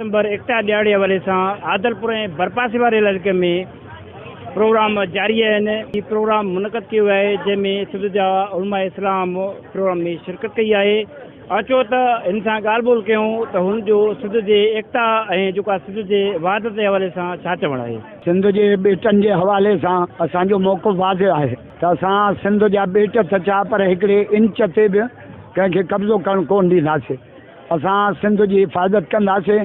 ڊسمبر ايڪتا ڏهاڙي حوالي سان عادلپور ۽ ڀرپاسي واري علائقي ۾ پروگرام جاري آهن، هي پروگرام منعقد ڪيو ويو آهي جنهن ۾ سنڌ جا علماء اسلام پروگرام ۾ شرڪت ڪئي آهي اچو ته هن سان ڳالهه ٻولهه ڪيون ته هن جو سنڌ جي ايڪتا ۽ جيڪا سنڌ جي وحدت جي حوالي سان ڇا چوڻ آهي. سنڌ جي ٻيٽن جي حوالي سان اسان جو موقف واضح آهي ته اسان سنڌ جا ٻيٽ ته ڇا پر هڪڙي انچ تي به ڪنهن کي قبضو ڪرڻ ڪونه ڏينداسين، اسان سنڌ جي حفاظت ڪنداسين،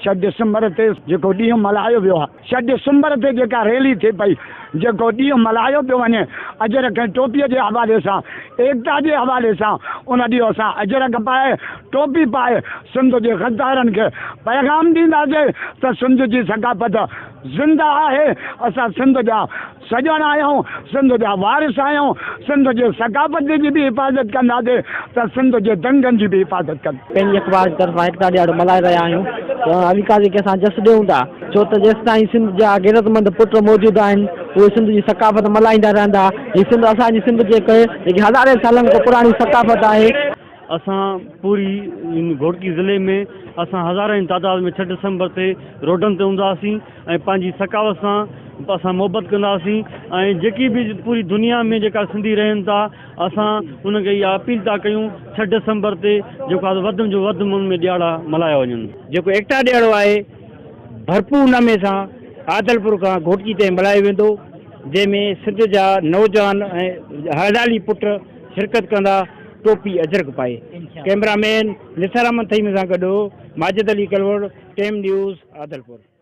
ڇهه ڊسمبر تي جيڪو ڏينهن ملهايو ويو آهي، ڇهه ڊسمبر تي جيڪا ريلي ٿي پئي، جيڪو ڏينهن ملهايو پيو وڃي اجرڪ ۽ ٽوپي جي حوالي سان، ايڪتا جي حوالي سان، ان ڏينهن اسان اجرڪ پائي، ٽوپي پائي سنڌ جي غدارن کي پيغام ڏينداسين ته سنڌ جي ثقافت زنده آهي، اسان سنڌ جا. سڄڻ آهيون، سنڌ جا وارث آهيون، سنڌ جي ثقافت جي به حفاظت ڪنداسين ته سنڌ جي دنگن جي به حفاظت ڪنداسين. پنهنجي اخبار جي طرفان ايڪتا ڏهاڙو ملهائي رهيا آهيون ته علي قاضي کي اسان جس ڏيون ٿا ڇو ته جيستائين سنڌ جا غيرتمند پٽ موجود آهن اهي سنڌ جي ثقافت ملهائيندا رهندا هي سنڌ اسان جي سنڌ جي ڪهي جيڪي هزارين سالن کان پراڻي ثقافت آهي. اسان پوري گهوٽڪي ضلعي ۾ اسان هزارين تعداد ۾ ڇهه ڊسمبر تي روڊن تي هونداسين. ۽ پنهنجي ثقافت سان اسان محبت ڪنداسين ۽ جيڪي به پوري دنيا ۾ جيڪا سنڌي رهن ٿا اسان انهن کي اها اپيل ٿا ڪيون ڇهه ڊسمبر تي جيڪو آهي وڌ جو وڌ من ۾ ڏيهاڙا ملهايا وڃن. جيڪو ايڪتا ڏيهاڙو آهي ڀرپور نمي سان عادلپور کان گهوٽڪي تائين ملهايو ويندو جنهن ۾ سنڌ جا نوجوان ۽ هڙدالي پٽ شرڪت ڪندا ٽوپي اجرڪ پائي ڪئميرا مين نثار احمد ٿهيمي سان گڏ ماجد علي ڪلوڙ ٽيم نيوز عادلپور.